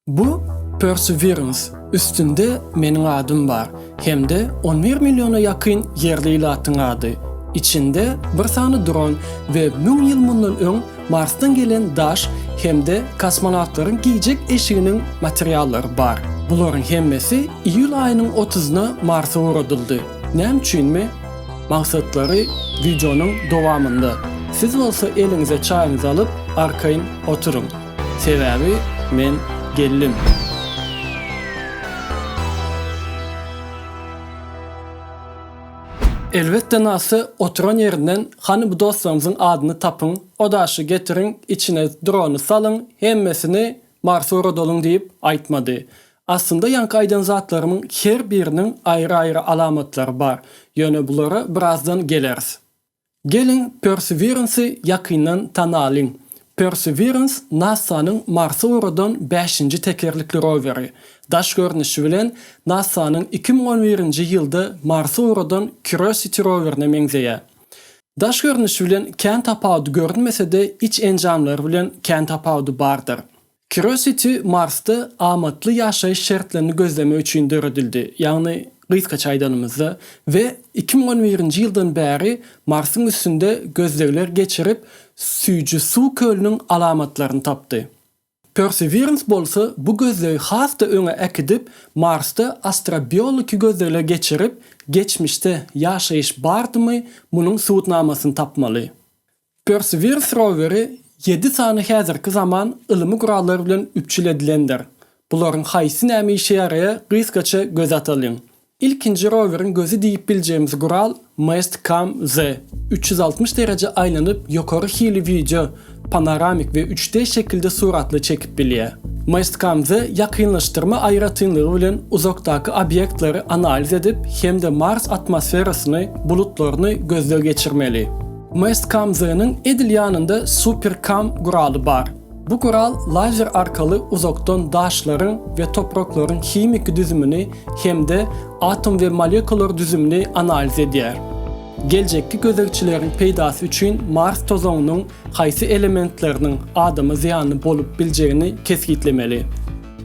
Bu Perseverance üstünde meniň adym bar hem-de on bir milliona ýakyn ýerli ilatyň ady. Içinde bir sany dron we müň ýyl mundan öň Marsdan gelen daş hem-de kosmonawtlaryň geýjek eşiginiň materiallary bar. Bularyň hemmesi iýul aýynyň otuzyna Marsa ugradyldy. Näme üçinmi? Magsatlary wideonyň dowamynda. Siz bolsa eliňize çaýyňyzy alyp, arkaýyn oturyň. Sebäbi men geldim. Elbetde Nasy oturan ýerinden hany bu dostlaryňyzyň adyny tapyň, o daşy getiriň, içine drony salyň, hemmesini Marsa uradalyň diýip aýtmady. Aslynda ýaňky aýdan zatlarymyň her biriniň aýry-aýry alamatlary bar, ýöne bulara birazdan geleris. Geliň, Perseverance-i ýakyndan tanalyň. Perseverance NASA-nyň Marsa ugradan bäşinji tekerlikli roweri. Daş görnüşi bilen NASA-nyň iki müň on birinji ýylda Marsa ugradan Curiosity rowerine meňzeýär. Daş görnüşi bilen kän tapawudy görünmese-de, iç enjamlary bilen kän tapawudy bardyr. Curiosity Marsda amatly ýaşaýyş şertlerini gözlemek üçin döredildi, ýagny gysgaça aýdanymyzda, we iki müň on birinji ýyldan bäri Marsyň üstünde gözlegler geçirip, süýji suw kölüniň alamatlaryny tapdy. Perseverance bolsa bu gözlegi has-da öňe äkidip, Marsda astrobiologiki gözlegler geçirip, geçmişde ýaşaýyş bardymy, munuň subutnamasyny tapmaly. Perseverance roweri ýedi sany häzirki zaman ylymy gurallar bilen üpjül edilendir. Bularyň haýsy nämä işe ýaraýa gysgaça göz atalyň. Ilkinji roweriň gözi diýip biljegimiz gural Mast Cam Z. Üç ýüz altmyş dereje aýlanyp ýokary hili wideo, panoramik we üç D şekilde suratly çekip bilýä. Mast Cam Z ýakynlaşdyrma aýratynlygy bilen uzakdaky obýektleri analiz edip hem-de Mars atmosferasyny, bulutlaryny gözleg geçirmeli. MSCAMZ-nyň edil ýanynda SuperCam guraly bar. Bu gural lazer arkaly uzakdan daşlaryň we topraklaryň himiki düzümini hem-de atom we molekular düzümini analiz edýär. Geljekki gözegçileriň peýdasy üçin Mars tozanynyň haýsy elementleriniň adama zyýanly bolup biljegini kesgitlemeli.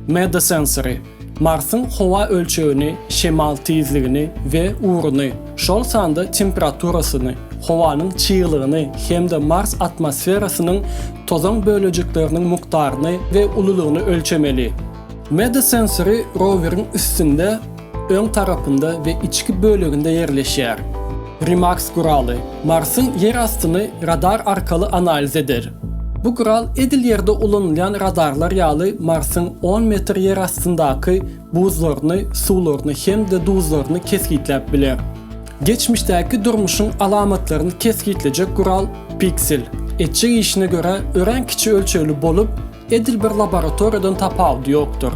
MedaSensory, Marsyň howa ölçegini, şemal tizligini we ugruny, şol sanda temperaturasyny, howanyň çyglygyny hem-de Mars atmosferasynyň tozan bölejikleriniň mukdaryny we ululygyny ölçemeli. MedaSensory roweriň üstünde Öň tarapynda we içki böleginde ýerleşýär. Remax guraly Marsyň ýer astyny radar arkaly analiz eder. Bu gural edil Ýerde ulanylýan radarlar ýaly Marsyň on metr ýer astyndaky buzlaryny, suwlaryny hem-de duzlaryny kesgitläp biler. Geçmişdäki durmuşyň alamatlaryny kesgitlejek gural Pixel etjek işine görä örän kiçi ölçegli bolup, Edil bir laboratoriýadan tapawudy ýokdur.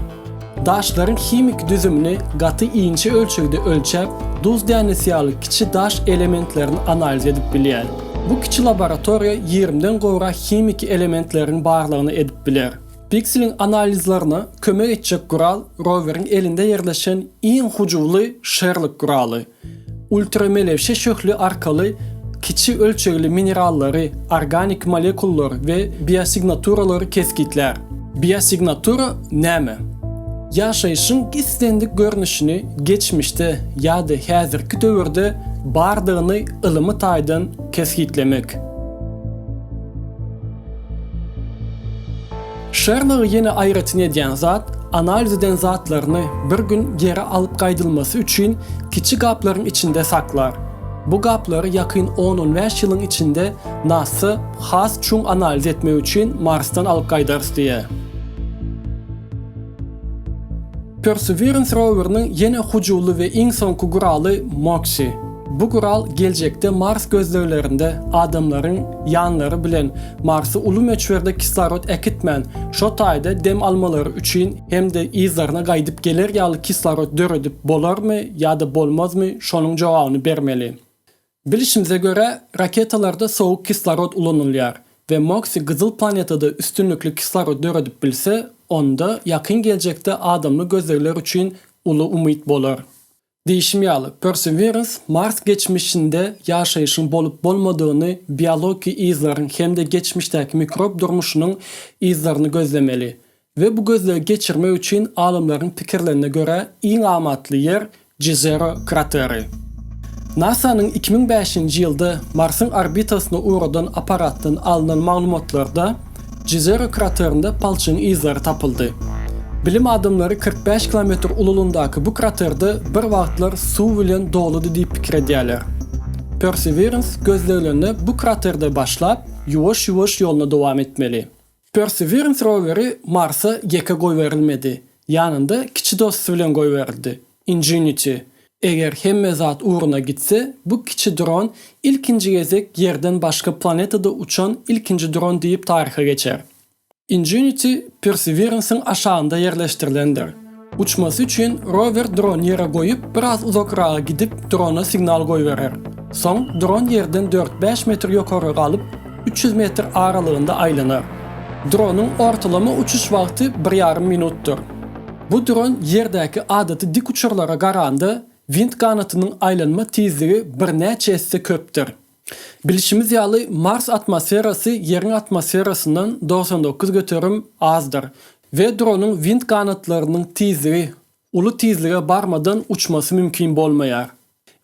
Daşlaryň himiki düzümini gaty inçe ölçegde ölçäp, duz dänesi ýaly kiçi daş elementlerini analiz edip bilýär. Bu kiçi laboratoriýa ýigrimden gowrak himiki elementleriň barlygyny edip biler. Pikseliň analizlerine kömek etjek gural roweriň elinde ýerleşen iň hyjuwly Sherlock guraly. Ultramelewşe şöhle arkaly kiçi ölçegli minerallary, organik molekullar we biossignaturalary kesgitlär. Biosignatura näme? Ýaşaýşyň islendik görnüşini geçmişde ýa-da häzirki döwürde bardygyny ylymy taýdan kesgitlemek. Şerlogy ýene aýratyn edýän zat, analiz eden zatlaryny bir gün geri alyp gaýdylmasy üçin kiçi gaplaryň içinde saklar. Bu gaplary ýakyn on-on bäş ýylyň içinde NASA has çuň analiz etmek üçin Marsdan alyp gaýdarys diýýär. Perseverance roweriniň ýene hujuwly we iň soňky guraly Moxie. Bu gural geljekde Mars gözleglerinde adamlaryň ýanlary bilen Marsa uly möçberde kislorod äkitmän, şo taýda dem almalary üçin hem-de yzlaryna gaýdyp geler ýaly kislorod döredip bolarmy ýa-da bolmazmy, şonuň jogabyny bermeli. Bilişimize görä, raketalarda sowuk kislorod ulanylýar we Moxie gyzyl planetada üstünlikli kislorod döredip bilse, onda ýakyn geljekde adamly gözlegler üçin uly umyt bolar. Diýşim ýaly, Perseverance Mars geçmişinde ýaşaýşyň bolup-bolmadygyny, biologiki yzlaryň hem-de geçmişdäki mikrob durmuşynyň yzlaryny gözlemeli we bu gözlegi geçirmek üçin alymlaryň pikirlerine görä iň amatly ýer Jizero krateri. NASA-nyň iki müň bäşinji ýylda Marsyň orbitasyna ugradan apparatdan alnan maglumatlarda, Jizera kraterinde palçygyň yzlary tapyldy. Bilim adamlary kyrk bäş kilometr ululyndaky bu kraterde bir wagtlar suw bilen doludy diýip pikir edýärler. Perseverans gözleglerine bu kraterde başlap, ýuwaş-ýuwaş ýoluna dowam etmeli. Perseverans roweri Marsa ýeke goýberilmedi, ýanynda kiçi dosty bilen goýberildi. Ingenuity, Eger hemme zat ugruna gitse, bu kiçi dron ilkinji gezek Ýerden başga planetada uçan ilkinji dron diýip taryha geçer. Ingenuity Perseverance-iň aşagynda ýerleşdirilendir. Uçmasy üçin rower drony ýere goýup, biraz uzakraga gidip, drona signal goýberer. Soň dron Ýerden dört-bäş metr ýokarga galyp, üç ýüz metr aralygynda aýlanar. Dronyň ortalama uçuş wagty bir ýarym minutdyr. Bu dron ýerdäki adaty dik uçarlara garanda wint ganatynyň aýlanma tizligi birnäçe esse köpdür. Bilşimiz ýaly, Mars atmosferasy Ýeriň atmosferasyndan togsan dokuz göterim azdyr we dronyň wint ganatlarynyň tizligi uly tizlige barmadan uçmasy mümkin bolmaýar.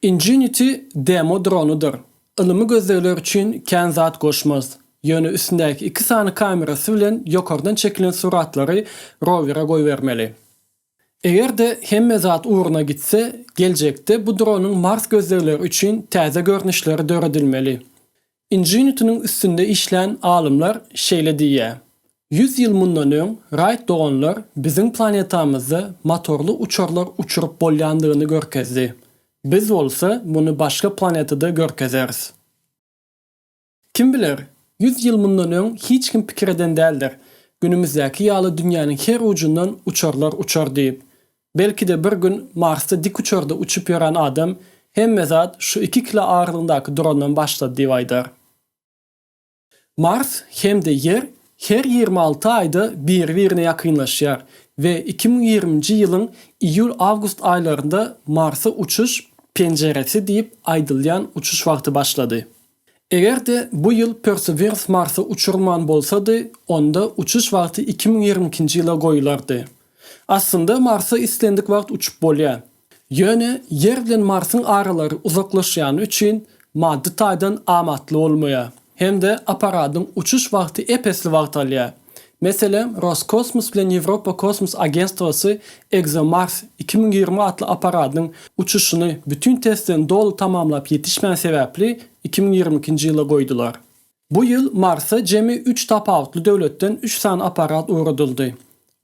Ingenuity demo dronudyr. Ylymy gözlegler üçin kän zat goşmaz. Ýöne üstündäki iki sany kamerasy bilen ýokardan çekilen suratlary rowere goýbermeli. Eger-de hemme zat ugruna gitse, geljekde bu dronuň Mars gözlegleri üçin täze görnüşleri döredilmeli. Inženitiniň üstünde işlän alymlar şeýle diýýär, Ýüz ýyl mundan öň Raýt doganlar biziň planetamyzda motorly uçarlar uçuryp bolýandygyny görkezdi. Biz bolsa muny başga planetada görkezeris. Kim biler, ýüz ýyl mundan öň hiç kim pikir eden däldir, günümizdäki ýaly dünýäniň her ujundan uçarlar uçar diýip. Belki-de bir gün Marsda dikuçarda uçup ýören adam hemme zat şu iki kilo agyrlygyndaky drondan başlady diýip aýdar. Mars hem-de Ýer her ýigrimi alty aýda biri-birine ýakynlaşýar we iki müň ýigriminji ýylyň iýul-awgust aýlarynda Marsa uçuş penjiresi diýip aýdylýan uçuş wagty başlady. Eger-de bu ýyl Perseverance Marsa uçurman bolsady, onda uçuş wagty iki müň ýigrimi ikinji ýyla goýulardy. Aslynda Marsa islendik wagt uçup bolýar. Ýöne Ýer bilen Marsyň aralary uzaklaşýany üçin maddy taýdan amatly bolmaýar hem-de apparadyň uçuş wagty ep-esli wagt alýar. Meselem, Roskosmos bilen Ýewropa kosmos agentstwasy ExoMars iki müň ýigrimi atly apparadynyň uçuşyny bütin testlerini doly tamamlap ýetişmän sebäpli iki müň ýigrimi ikinji ýyla goýdular. Bu ýyl Marsa jemi üç tapawutly döwletden üç sany apparat ugradyldy.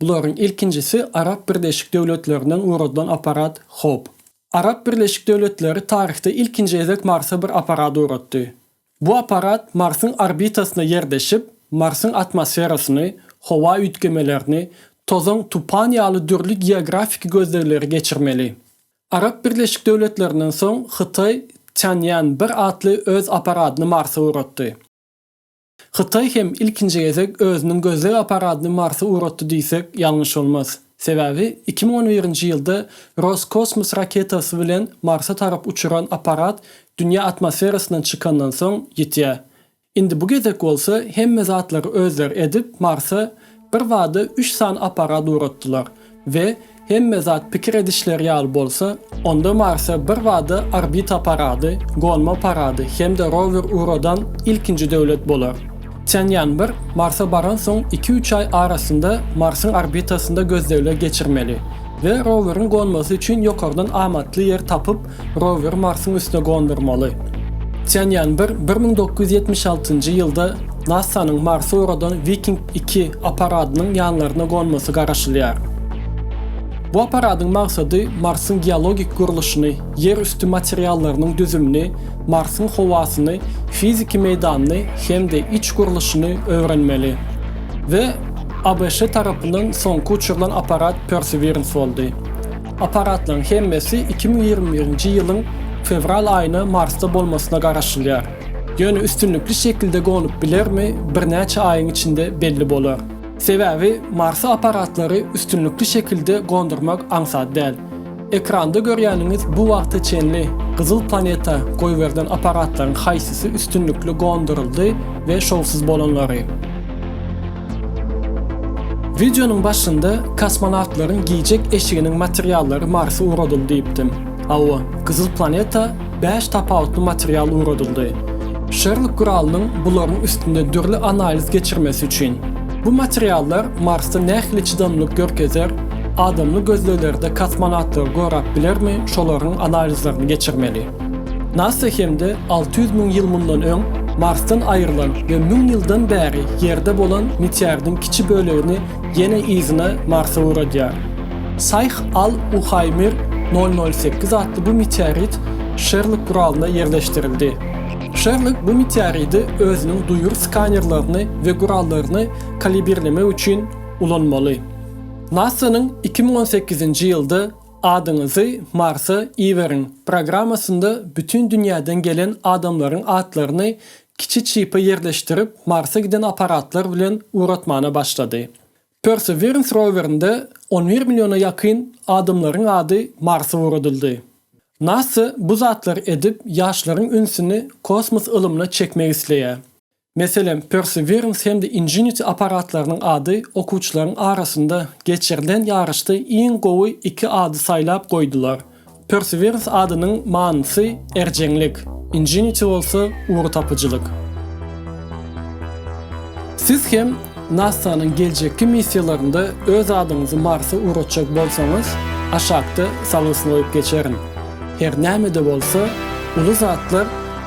Bularyň ilkinjisi Arap Birleşik Döwletlerinden ugradylan apparat Hope. Arap Birleşik Döwletleri taryhda ilkinji gezek Marsa bir apparat ugratdy. Bu apparat Marsyň orbitasyna ýerleşip, Marsyň atmosferasyny, howa üýtgemelerini, tozan, tupan ýaly dürli geografiki gözlegleri geçirmeli. Arap Birleşik Döwletlerinden soň Hytaý Tianyan bir atly öz apparadyny Marsa ugratdy. Hytaý hem ilkinji gezek özüniň gözleg apparadyny Marsa ugratdy diýsek, ýalňyş bolmaz. Sebäbi iki müň on birinji ýylda Roskosmos raketasy bilen Marsa tarap uçuran apparat dünýä atmosferasyndan çykandan soň ýitýär. Indi bu gezek bolsa hemme zatlary özleri edip Marsa bir bada üç sany apparat ugratdylar we hemme zat pikir edişleri ýaly bolsa onda Marsa bir bada orbita apparady, gonma apparady hem-de rower ugradan ilkinji döwlet bolar. Çenýanbir Marsa baransoň iki-üç aý arasynda Marsyň orbitasynda gözlegler geçirmeli we roweriň gonmasy üçin ýokardan amatly ýer tapyp, roweri Marsyň üstüne gondurmaly. Çenýanbir bir müň dokuz ýüz ýetmiş altynjy ýylda NASA-nyň Marsa ugradan Wiking iki apparadynyň ýanlaryna gonmasy garaşylýar. Bu apparadyň maksady Marsyň geologik gurluşyny, ýer üsti materiallarynyň düzümini, Marsyň howasyny, fiziki meýdanyny hem-de iç gurluşyny öwrenmeli we ABŞ tarapyndan soňky uçurylan apparat Perseverance boldy. Apparatlaryň hemmesi iki müň ýigrimi birinji ýylyň fewral aýyna Marsda bolmasyna garaşylýar. Ýöne üstünlikli şekilde gonup bilermi, birnäçe aýyň içinde belli bolar. Sebäbi Marsa apparatlary üstünlikli şekilde gondurmak aňsat däl. Ekranda görýäniňiz bu wagta çenli gyzyl planeta goýberilen apparatlaryň haýsysy üstünlikli gonduryldy we şowsuz bolanlary. Wideonyň başynda kosmonawtlaryň giýjek eşiginiň materiallary Marsa ugradyldy diýipdim. Hawa, gyzyl planeta Bäş tapawutly material ugradyldy. Şörlük guralynyň bularyň üstünde dürli analiz geçirmesi üçin. Bu materiallar Marsda nähili çydamlylyk görkezer, adamly gözleglerde kosmonawtlary gorap bilermi şolaryň analizlerini geçirmeli. Nasa hem-de alty ýüz müň ýyl mundan öň Marsdan aýrylan we müň ýyldan bäri Ýerde bolan meteordiň kiçi bölegini Ýene yzyna Marsa uradýar. Saýh Al Uhaýmir nol nol sekiz atly bu meteorit Şerlok guralynda ýerleşdirildi. Şerlok bu meteoridi özüniň duýur skanerlerini we gurallaryny kalibirlemek üçin ulanmaly. NASA-nyň iki müň on sekizinji ýylda Adyňyzy Marsa iberiň programmasynda bütin dünýäden gelen adamlaryň atlaryny Kiçi çipi ýerleşdirip Marsa giden apparatlar bilen uratmana başlady. Perseverance rowerinde on bir milliona ýakyn adamlaryň ady Marsa uradyldy. Nasa bu zatlary edip ýaşlaryň ünsüni kosmos ylymyna çekmek isleýär. Meselem, Perseverance hem-de Ingenuity apparatlarynyň ady okuwçylaryň arasynda geçirilen ýaryşda iň gowy iki ady saýlap goýdular. Perseverance adynyň manysy erjeňlik, ingenuity bolsa ugurtapyjylyk. Siz hem NASA-nyň geljekki missiýalarynda öz adyňyzy Marsa ugratjak bolsaňyz, aşakda salgysyn goýup geçerin. Her näme-de bolsa, uly zatlar